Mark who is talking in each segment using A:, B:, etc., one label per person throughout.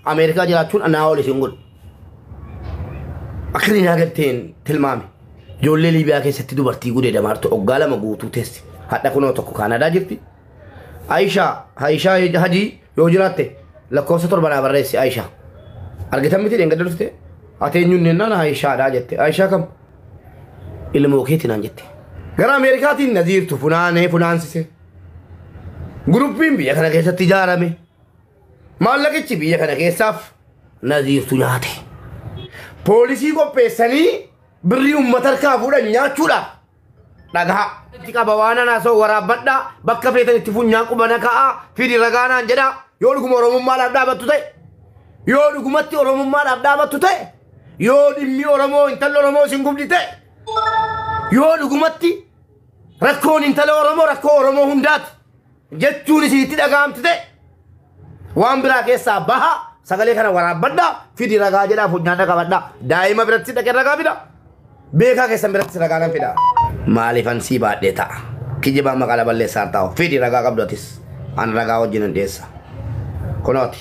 A: Ameerikaa jiraachuun anaa ol isin godhu. Akkanni naa galteen tilmaame. Ijoollee Liibiyaa keessatti dubartii gudee damaartu oggaa lama guutuu teessi. Hadha kunoo tokko Kaanadaa jirti. Ayishaa, Ayishaa Hajii yoo jiraatte lakkoofsa torba naa barreessi Ayishaa. Argitan miti dheengadda dhufte ati eenyuun jennaan Ayishaadhaa jette. Ayishaa kam? Ilmoo keeti naan jette. Gara Ameerikaatiin na ziirtu funaanee funaansise. Guruppiin biyya kana keessatti ijaarame. Maallaqichi biyya kana keessaaf naziirtu nyaate. Poolisii qopheessanii birrii uummata harkaa fuudhan nyaachuudhaaf dhagahaa. Itti qaba waan anaa soo waraabbadhaa bakka feetan itti funyaan qubana ka'aa fidi ragaanaan jedhaa yoo dhuguma oromummaadhaaf dhaabattu ta'e yoo dhugumatti oromummaadhaaf dhaabattu ta'e yoo dhimmi oromoo intalli oromoo isin gubdi ta'e yoo dhugumatti rakkoon intala oromoo rakkoo oromoo hundaati jechuun isinitti dhaga'amti ta'e waan biraa keessaa baha sagalee kana waraabbadha fidi ragaa jedhaa funyaana qabadha daa'ima biratti dhaqee ragaa fida beekaa keessan biratti ragaa nan fida maaliifan sii baadhee ta'a kijibaa maqaa laballeessaa ta'u fidi ragaa qabdu atis an ragaa wajjin hin dhiyeessa kunooti.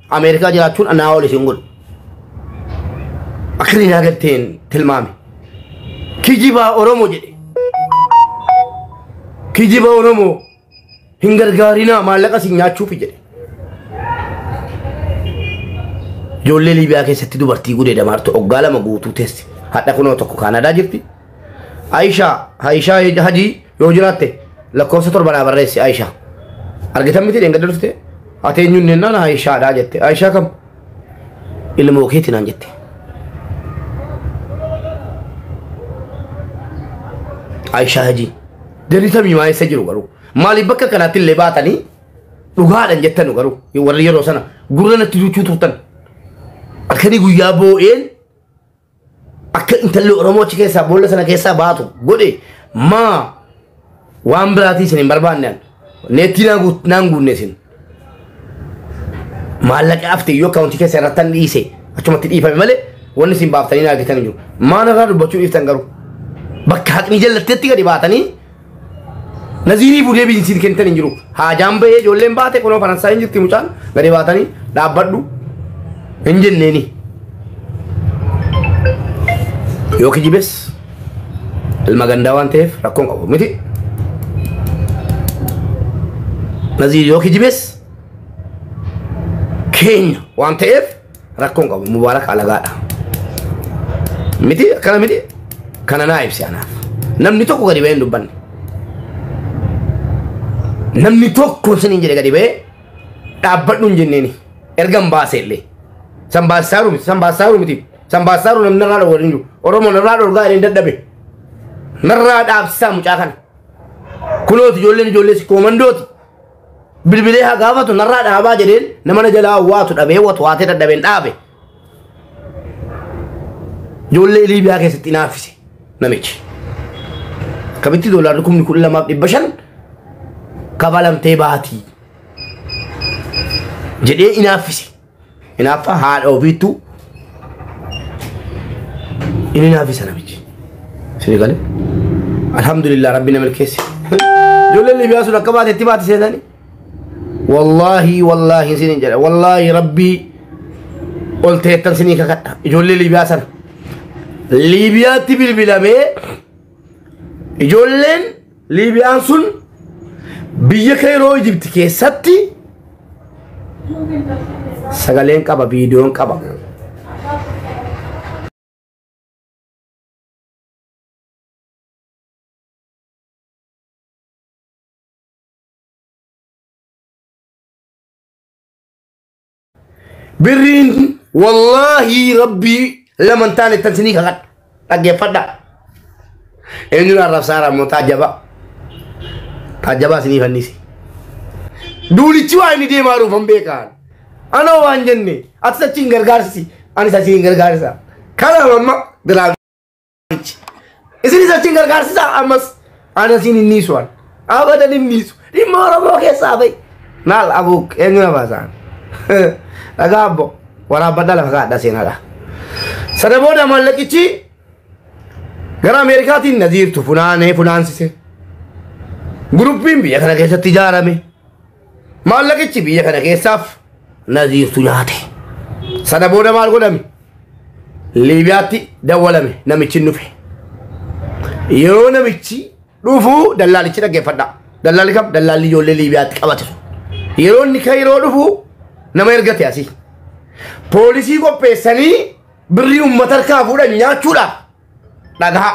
A: Ameerikaa jiraachuun anaa ol isin godhu. Akkanni naa galteen tilmaame. Kijibaa Oromoo jedhe. Kijiba Oromoo hin gargaarinaa maallaqa isin nyaachuufi jedhe. Ijoollee Liibiyaa keessatti dubartii gudee damaartu oggaa lama guutuu teessi. Hadha kunoo tokko Kaanadaa jirti. Aishaa, Aishaa Hajii Yoo jiraatte lakkoofsa torba naa barreessi Aisha. Argitan miti dheengadda dhufte ati eenyuun jennaan Aishaadha jette. Aisha kam? Ilmoo keeti naan jette. Aisha Hajii. Jarri samii maa eessa jiru garuu? Maaliif bakka kanaatti illee baatanii dhugaadhan jettanu garuu warri yeroo sana gurra natti duuchuu turtan. Akkanii guyyaa boo'een akka intalli Oromoo achi keessaa boolla sana keessaa baatu godhe maa waan biraatii isin hin barbaanne an. neettii naa guut- naan guunne isin maallaqa hafte iyyuu akkaawuntii keessa irratti an dhiise achumatti dhiifame malee wanni isin baaftanii naa argitan hin jiru maal irraa dubbachuu dhiiftan garuu bakka haqni jallatteetti gadi baatanii Naziiriif ulee biinsiin kennitan hin jiru. Haajaan bahee ijoolleen baate kunoo faransaay hin jirti mucaan gadi baatanii dhaabbadhu hin jenneeni. Yoo kijibes ilma gandaa waan ta'eef rakkoon qabu miti. Naziir yoo kijibes keenya waan ta'eef Rakkoo hin qabu mubaarak alagaadha. Miti akkana miti kana naa ibsi anaaf. Namni tokko gadi ba'ee hin dubbanne. Namni tokko siniin jedhe gadi ba'ee dhaabbadhu hin jenneeni. Erga hin baase illee. San baasisaaru miti san baasisaaru miti san baasisaaru namni narraa dhowwan hin jiru. Oromoo narraa dhorgaa jedhee hin dadhabe. Narraa dhaabsisaa mucaa kana. Kunooti ijoolleen ijoollee si koomandooti. bilbilee haa gaafatu narraa dhaabaa jedheen nama na jalaa waatu dhabee watu waatee dadhabeen dhaabe. Ijoollee Liibiyaa keessatti naaffise namichi. Kabitti doolaarri kumni kudha lamaaf dhibba shan kabalamtee baatii jedhee inaaffise. Hinaaffaa haadha ofiittuu inni naaffisa namichi. Sini galee. Alhamdulillah rabbi na milkeesse. Ijoolleen Libiyaa sun akka baate itti baate seetanii. Wallaahi wallaahi sinin jedha wallaahi rabbii ol teettan sinii kakadha ijoollee Libiyaa sana. Libiyaatti bilbilamee ijoolleen Liibiyaan sun biyya Keeroo Ijibti keessatti sagaleen qaba, viidiyoon qaba. Birriin wallaahi rabbii lama hin taane tan sinii kakadha. Dhaggeeffadha. Eenyuun arrabsaara ammoo taajjabaa. Taajjabaa sinii fannisi. Duulichi waa inni deemaa jiru hin beekaan. Anoo waan jenne atis achi hin gargaarsi anis achi hin gargaarsa. Kana amma biraa Abichi. Isinis achiin gargaarsisaa ammas ana siin hin dhiisu an. Abadan hin dhiisu. Dhimma Oromoo keessaa bahi. Naal abuuk eenyu na baasaan. Dhagaa abbo waraabbadha lafa kaadha seenadha. Sana booda maallaqichi gara Ameerikaatiin na jiirtu funaanee funaansise. Guruppiin biyya kana keessatti ijaarame. Maallaqichi biyya kana keessaaf naziirtu nyaate. Sana booda maal godhame? Liibiyaatti dawwalame namichi hin dhufe. Yeroo namichi dhufu dallaalichi dhaggeeffadha. Dallaalli kam? Dallaalli ijoollee Liibiyaatti qabate sun. Yeroo inni Kayiroo dhufu nama ergate asii. Poolisii qopheessanii birrii uummata harkaa fuudhan nyaachuudhaaf dhagaha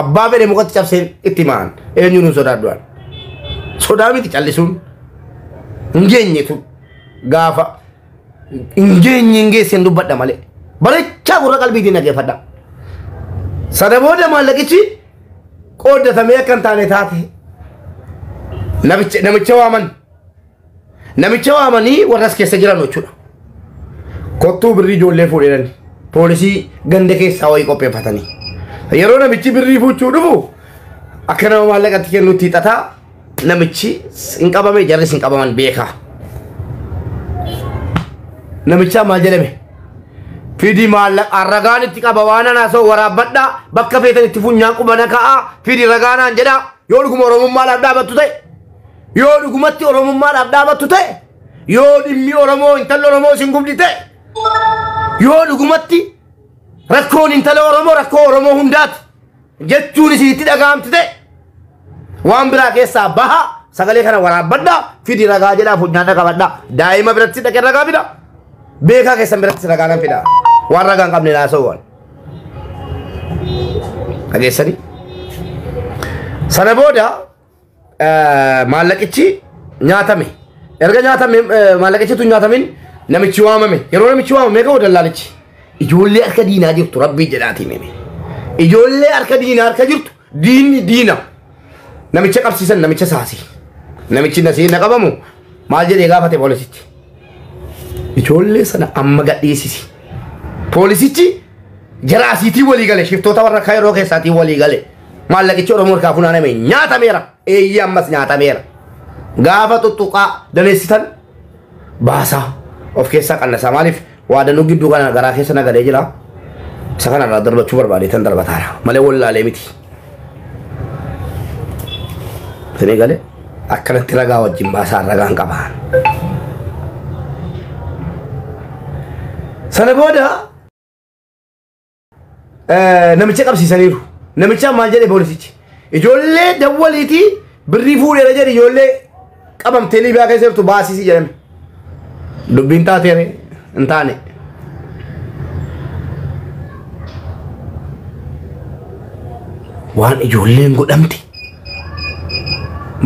A: abbaa fedhe mukatti cabseen itti himaan eenyuun hin sodaadhu an sodaa miti callisuun hin geenyetu gaafa hin geenye hin geesseen dubbadha malee bareechaa gurra qalbiitiin dhageeffadha sana booda maallaqichi qooddatamee akka hin taane taate namicha namicha waaman Namicha waamanii warra as keessa jiran jechuudha. Kottuu birrii ijoollee fuudhanii poolisii ganda keessaa wayii qopheeffatanii. Yeroo namichi birrii fuuchuu dhufu akka nama maallaqatti kennutti hixataa namichi hin qabame jarris hin qabaman beekaa. Namichaa maal jedhame? Fidi maallaqa ragaan itti qaba waan anaa soo waraabbadha bakka feetan itti funyaan qubana ka'a fidi ragaanaan jedha yoo dhuguma oromummaa laaf dhaabattu ta'e Yoo dhugumatti Oromummaadhaaf dhaabattu ta'e, yoo dhimmi Oromoo intalli Oromoo isin gubdi ta'e, yoo dhugumatti rakkoon intala Oromoo rakkoo Oromoo hundaati jechuun isinitti dhaga'amti ta'e, waan biraa keessaa baha sagalee kana waraabbadhaa fidi ragaa jedhaa funyaan dhaqabadhaa daa'ima biratti dhaqee ragaa fida beekaa keessan biratti ragaa nan fida waan ragaa hin qabne naasawwan dhageessanii sana booda eh, maallaqichi nyaatame. Erga nyaatame eh, maallaqichi tun nyaatamin namichi waamame. Yeroo namichi waamame ka'u dallaalichi. Ijoollee harka diinaa jirtu rabbii jedhaatiin hime. Ijoollee harka diinaa harka jirtu diinni diina. Namicha qabsiisan namicha saasi. Namichi nasii na qabamu maal jedhee gaafate poolisitti. Ijoollee sana amma gadhiisisi. Poolisichi jara asiitii walii gale shiftoota warra kaayiroo keessaatiin walii gale. Maallaqichi Oromoo harkaa funaaname nyaatameera. Eeyyee ammas nyaatameera. Gaafa tuttuqaa daneessitan baasaa of keessaa qannasaa maaliif waadanuu gidduu kana garaa keessa nagalee jira. Isa kanarraa darbachuu barbaadeetan darbataara malee wallaalee miti. Fedhee galee akkanatti ragaa wajjin baasaan ragaan qabaan. Sana booda eh, namicha qabsiisaniiru. Namichaan maal jedhe poolisichi? Ijoollee dawwaliitii birrii fuudheera jedhe ijoollee qabamtee liibiyaa keessa jirtu baasisi jedhame dubbiin taatee hin taane waan ijoolleen godhamte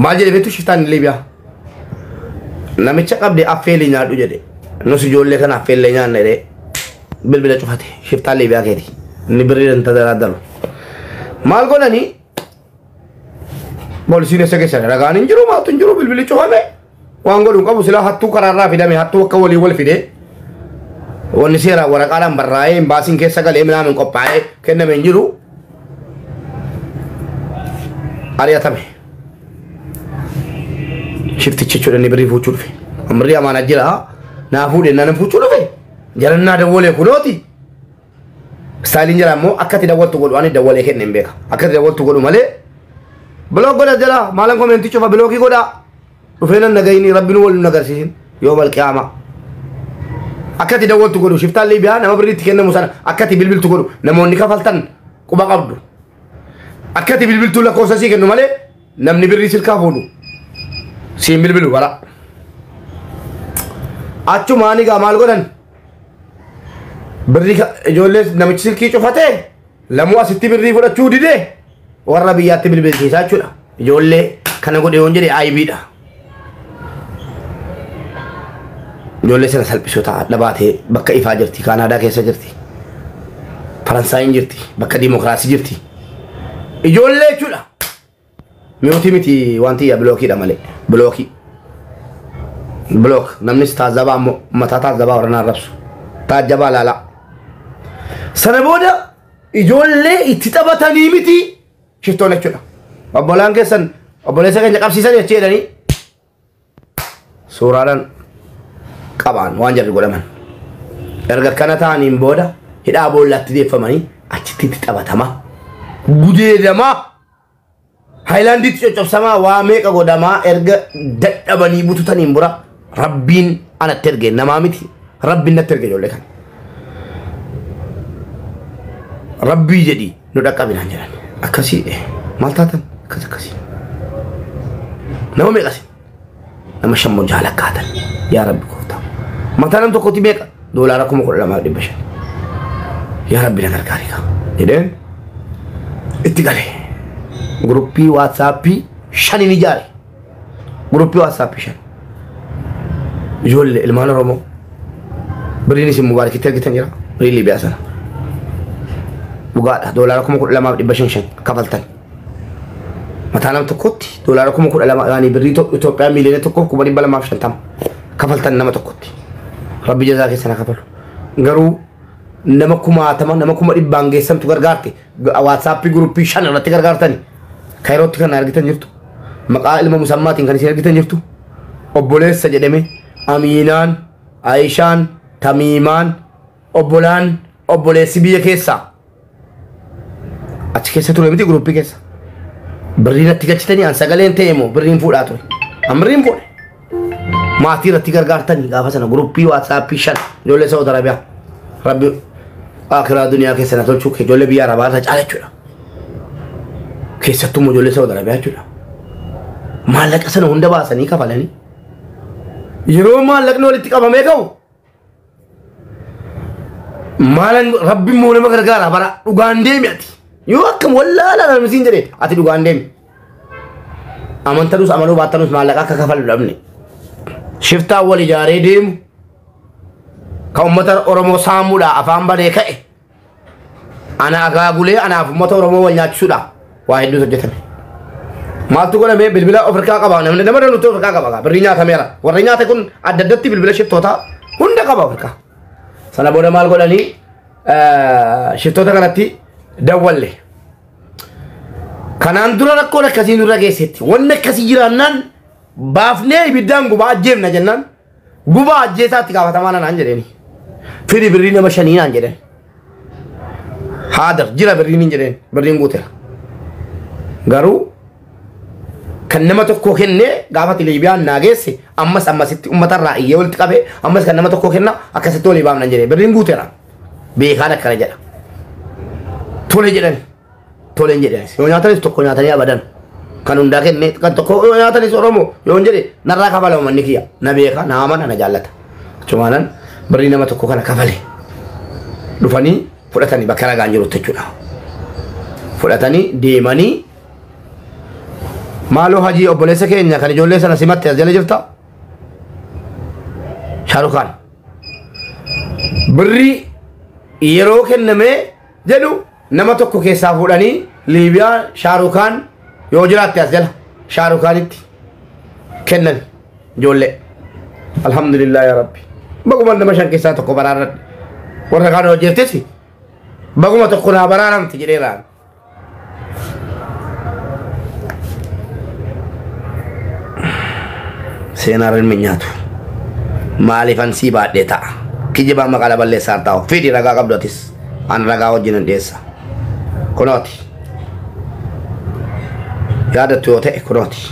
A: maal jedhe beektu shiftaan liibiyaa namicha qabde affeelii nyaadhu jedhe nus ijoollee kana affeellee nyaanna jedhee bilbila cufate shiftaan liibiyaa keeti inni birrii hin tadaraaddaru maal godhanii Poolisiin eessa keessan ragaan hin jiru maaltu hin jiru bilbili cufame waan godhu hin qabu silaa hattuu karaarraa fidame hattuu akka walii wal fide wanni seeraan waraqaadhaan barraa'ee imbaasiin keessa galee minaamin qophaa'ee kenname hin jiru ari'atame shiftichi jechuudha inni birrii fuuchuu dhufe ammarri amaanaa jira naa fuudhe naan fuuchuu dhufe jalannaa dawwalee kunooti Istaayiliin jala immoo akka itti dawwaltu godhu ani dawwalee kenne hin beeka. Akka itti dawwaltu godhu malee bilook godha jala maalan koomeentii cufa bilookii godha. Dhufee nan nagayini rabbi nu waliin nagarsiisin yoo malqiyaama. Akka itti dawwaltu godhu shiftaan Liibiyaa nama birrii itti kennamu sana akka itti bilbiltu godhu namoonni kafaltan quba qabdu. Akka itti bilbiltuu lakkoofsa sii kennu malee Namni birrii silkaa fuudhu siin bilbilu bara. Achumaan egaa maal godhan? Birrii ka- ijoollee namichi silkii cufatee lamuu asitti birrii fudhachuu didee warra biyyaatti bilbilsiisaa jechuudha. Ijoollee kana godhe yoon jedhe ayibiidha. Ijoollee sana salphisuu ta'a. Adda baatee bakka ifaa jirti. Kaanaadaa keessa jirti. Faransaayiin jirti. Bakka diimokiraasii jirti. Ijoollee jechuudha. Mi'ootii miti wanti yaa bilookiidha malee. Bilookii. Bilook. Namnis taazabaa ammoo mataa taazabaa warranaa rabsu. Taajabaa laalaa. Sana booda ijoollee itti taphatanii miti. shiftoo lachuudha. Obbolaan keessan obboleessa keenya qabsiisan jechii jedhanii suuraadhaan qabaan waan jarri godhaman. Erga akkana ta'aniin booda hidhaa boollaatti deeffamanii achitti itti taphatama. Gudeedamaa haayilaandiitti coccobsamaa waa meeqa godhamaa erga dadhabanii bututaniin bura Rabbiin anatti erge namaa miti rabbiin natti erge ijoollee kana. Rabbii jedhi nu dhaqqabinaan jedhan akkasii eh, maal taatan akkas akkasii. Nama meeqa sin nama shan moo jaha lakkaatan yaa rabbi gooftaa. Mataa nam tokkotti meeqa doolaara kuma kudha lamaa dhibba shan. Yaa rabbi na gargaari kaa jedheen itti galee. Guruppii waatsaappii shaniin ijaare. Guruppii WhatsApp shan. Ijoollee ilmaan Oromoo. Birriin isin mubaarakitti argitan jira. Birrii Liibiyaa sana. Dhugaadha. Doolaara kuma kudha lamaaf dhibba shan shan kafaltan. Mataa nama tokkotti doolaara kuma kudha lama yaani birrii Ito- Itoophiyaa miiliyoona tokkoof kuma dhibba lamaaf shantama kafaltan nama tokkotti. Rabbi jazaa keessan haa kafalu. Garuu nama kumaatama nama kuma dhibbaan geessantu gargaarte Waatsaappii guruppii shan irratti gargaartani. Kairootti kan argitan jirtu. Maqaa ilma musammaatiin kan isin argitan jirtu. Obboleessa jedhame Amiinaan, Ayishaan, Tamiimaan, obbolaan, obboleessi biyya keessaa. Achi keessa ture miti guruppii keessa. Birrii natti galchitanii an sagaleen ta'e moo birriin fuudhaa ture. An birriin fuudhe. maatii irratti gargaartanii gaafa sana guruppii waatsaappii shan ijoollee Saawud Arabiyaa rabbi akiraa duniyaa keessa na tolchuu kee ijoollee biyya Arabaa irra caala jechuudha. Keessattuu immoo ijoollee Saawud Arabiyaa jechuudha. Maallaqa sana hunda baasanii kafalanii yeroo maallaqni walitti qabamee ka'u maalan rabbiin moo nama gargaara bara dhugaan deemi ati yoo akkam wallaalaa nama siin jedhe ati dhugaan deemi amantanus amanuu baattanus maallaqa akka kafalu dhabne shiftaa wal ijaaree deemu ka ummata oromoo saamuudha afaan banee ka'e Ana agaagulee anaaf uummata Oromoo wal nyaachisudha. Waa hedduutu hojjetame. Maaltu godhame bilbila of harkaa qaba namni nama danuutu of harkaa qaba gaa birrii nyaatameera. Warri nyaate kun adda addatti bilbila shiftootaa hunda qaba of harkaa. Sana booda maal godhanii eh, shiftoota kanatti dawwalle. Kanaan dura rakkoon akkasii nurra geessetti. Wanni akkasii jiraannaan baafnee ibiddaan gubaa ajjeefna jennaan Gubaa ajjeesaa itti gaafatamaa nanaan jedheeni. Firi birrii nama shanii naan jedheen. Haadar jira birriin hin jedheen birriin guuteera. Garuu kan nama tokkoo kennee gaafa Liibiyaan naa geesse ammas ammasitti uummata irraa iyyee walitti qabee ammas kan nama tokkoo kenna akkasitti walii baamnan jedhee birriin guuteera. Beekaan akkana jedha. Tole jedhani. tole hin jedhe yoo nyaatanis tokko nyaatanii abadan kan hundaa kenne kan tokko yoo nyaatanis oromoo yoo hin jedhe narraa kafala uummanni kiyya na beeka na amana na jaallata achumaanan birrii nama tokko kana kafale dhufanii fudhatanii bakka ragaan jirutti jechuudha fudhatanii deemanii maaloo hajii obboleessa keenya kan ijoollee sana simatte as jala jirta shaarukaan birrii yeroo kennamee jedhu nama tokko keessaa fuudhanii liibiyaa shaarukaan yoo jiraatte as jala shaarukaanitti kennan ijoollee alhamdulillah yaa rabbi baguma nama shan keessaa tokko baraaradhe warra kaan hojjeeftesi baguma tokko naa baraaramte jedheeraan seenaan ilmi nyaatu maaliifan sii baadhee ta'a kijibaa maqaa laballeessaa taa'u fidi ragaa qabdu atis an ragaa wajjin hin dhiyeessa kunooti yaadattu yoo ta'e kunooti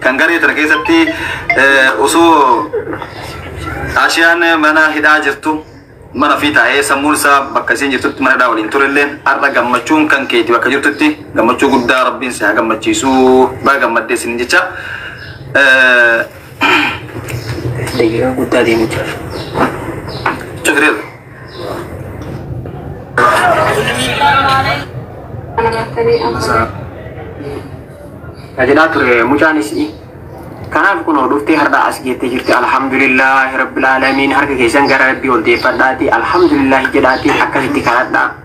B: Kan garee tana keessatti osoo Aashiyaan mana hidhaa jirtu mana ofii taa'ee sammuun isaa bakka isiin jirtutti mana hidhaa waliin turellee har'a gammachuun kan keeti bakka jirtutti gammachuu guddaa rabbiin si haa gammachiisu baga gammaddee isin jecha.
C: Daqiiqaa guddaa deemu jira.
B: Cufireera.
C: Tajaajilaa ture mucaan isii. Kanaaf kunoo dhuftee har'aa as geettee jirti. Alhamdulillah rabbil aalamiin harka keessan gara rabbii ol deeffadhaati. Alhamdulillah jedhaati akkasitti kadhadhaa.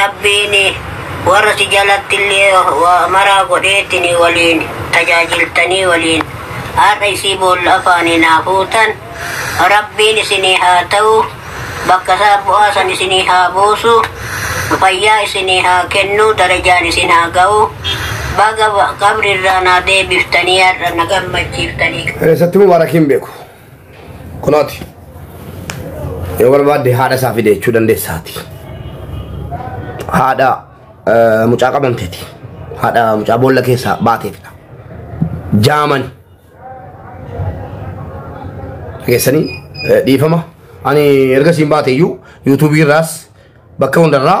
D: Rabbiin warra si jalattillee waa maraa godheetiin waliin tajaajiltanii waliin har'a isii boolla afaanii naa fuutan Rabbiin isinii haa ta'u bakka isaa bu'aa san isinii haa buusu fayyaa isinii haa kennu darajaan isin haa ga'u baga qabrirraa naa deebiftanii har'a na gammachiiftanii. Eessattuu Mubaarakiin
A: beeku. Kunooti. Yoo barbaadde haadha isaa fide jechuu dandeessaati. Haadha eh, mucaa qabamteeti. Haadha mucaa boolla keessaa baateetidha. Jaamani. Dhageessanii eh, dhiifama. Ani erga siin baate iyyuu yuutuubii irraas bakka hundarraa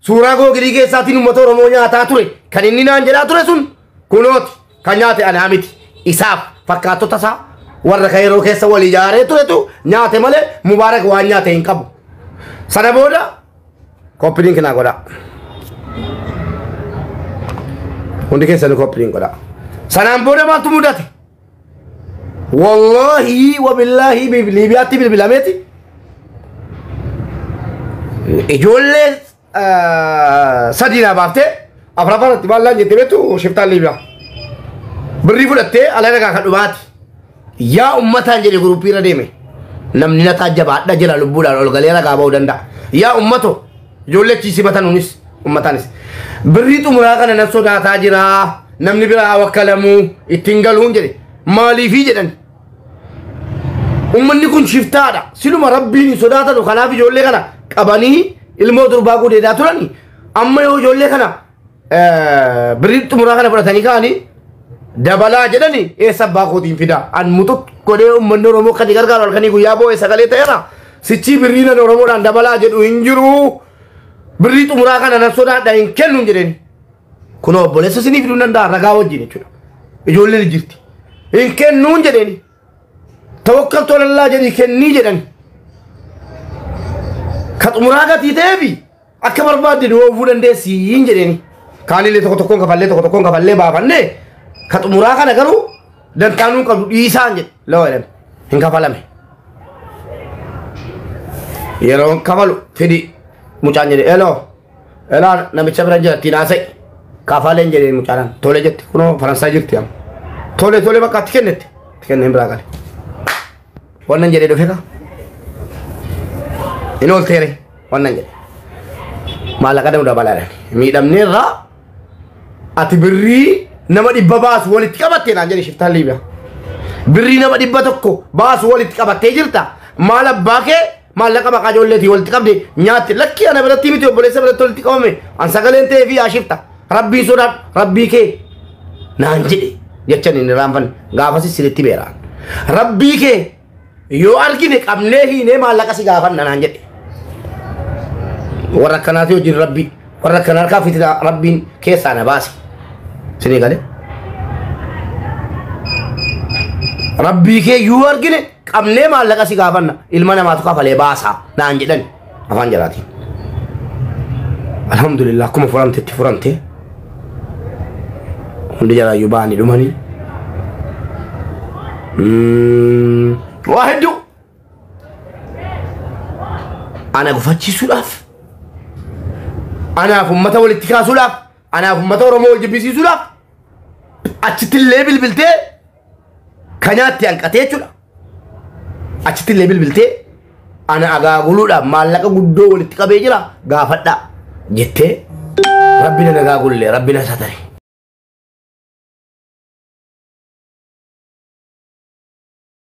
A: Suuraa googilii keessaatiin uummata Oromoo nyaataa ture kan inni naan jedhaa ture sun kunooti kan nyaate anaa miti isaaf fakkaattota isaa warra kan yeroo keessa wal ijaaree turetu nyaate malee mubaarak waan nyaate hin qabu. Sana booda koppiliin kinaa godhaa. Hundi keessanuu koppiliin godhaa. Sanaan booda maaltu mudate? Wallaahi wabillaahi bif- Liibiyaatti bilbilameeti. Ijoollee ah, sadii naa baaftee afraffaa irratti maal naan jette beektu shiftaan Liibiyaa. Birrii fudhattee ala nagaa kan dhumaati. Yaa ummataan jedhe guruppii irra deeme. Namni na taajjabaadha jira lubbuudhaan ol galee ragaa ba'uu danda'a. Yaa ummato Ijoollee achi sibatan unis ummataanis. Birrii xumuraa kana nan sodaataa jira. Namni biraa wakkalamu ittiin galuun jedhe. Maaliifii jedhan. Ummanni kun shiftaadha. Siluma rabbiin hin sodaatanu kanaaf ijoollee kana qabanii ilmoo durbaa gudeedaa turani. Amma yoo ijoollee kana birrii xumuraa kana fudhatanii ka'anii dabalaa jedhani eessa abbaa kootiin fidaa an muxux godhee uummanni oromoo kan gargaaru halkanii guyyaa boo'ee sagalee ta'eera sichii birrii nan oromoodhaan dabalaa jedhu hin jiru birrii xumuraa kana nan sodaadha hin kennu hin jedheen kun obboleessa sinii fiduu danda'a ragaa wajjin jechuudha ijoolleen jirti hin kennu hin jedheen tawakkaltu alallaa jedhii kennii jedhan ka xumuraa gatii ta'eefi akka barbaadde nu oofuu dandeessiin jedheeni kaanillee tokko tokkoon kafallee tokko tokkoon kafallee baafanne ka xumuraa kana garuu dantaanuu qabdu dhiisaan jedhe lawa jedhan hin kafalame yeroon kafalu fidi mucaan jedhe eloo Elaa namicha bira jira ittiin haasa'i. Kaafaaleen jedhee mucaalaan tole jette kunoo Faransaay jirti amma. Tole tole bakka itti kennetti. Itti kenneen biraa gale. Wannan jedhee dhufe kaa. Inni ol teere wannan jedhe. Maallaqa danuudha balaadhaan. Miidhamnee irraa ati birrii nama dhibba baasu walitti qabattee naan jedhe shiftaan Liibiyaa. Birrii nama dhibba tokko baasu walitti qabattee jirta. Maal abbaa kee maallaqa maqaa ijoolleetii walitti qabde nyaatti lakkii ana biratti miti obboleessa biratti walitti qabame an sagaleen ta'ee fi ashifta rabbii sodaadhu rabbii kee naan jedhe jechan inni raanfan gaafasi siritti beeraan rabbii kee yoo argine qabnee hiinee maallaqa si gaafanna naan jedhe warra akkanaati hojiin rabbii warra akkana harkaa fitina rabbiin keessaa na baase sinii galee rabbii kee yoo argine qabnee maallaqa si gaafanna ilma namaatu kafalee baasaa naan jedhan afaan jalaatiin. Alhamdulillah akkuma furamte itti furamte hundi jalaayyuu ba'anii dhumanii. Mm, Waa hedduu ana gufachiisuudhaaf anaaf ummata walitti kaasuudhaaf anaaf ummata Oromoo wal jibbisiisuudhaaf achitti illee bilbiltee kanaatti hanqatee jechuudha. Achitti illee bilbiltee ana agaaguluudhaaf maallaqa guddoo walitti qabee jira gaafadhaa jettee rabbi na nagaagulle rabbi na satare.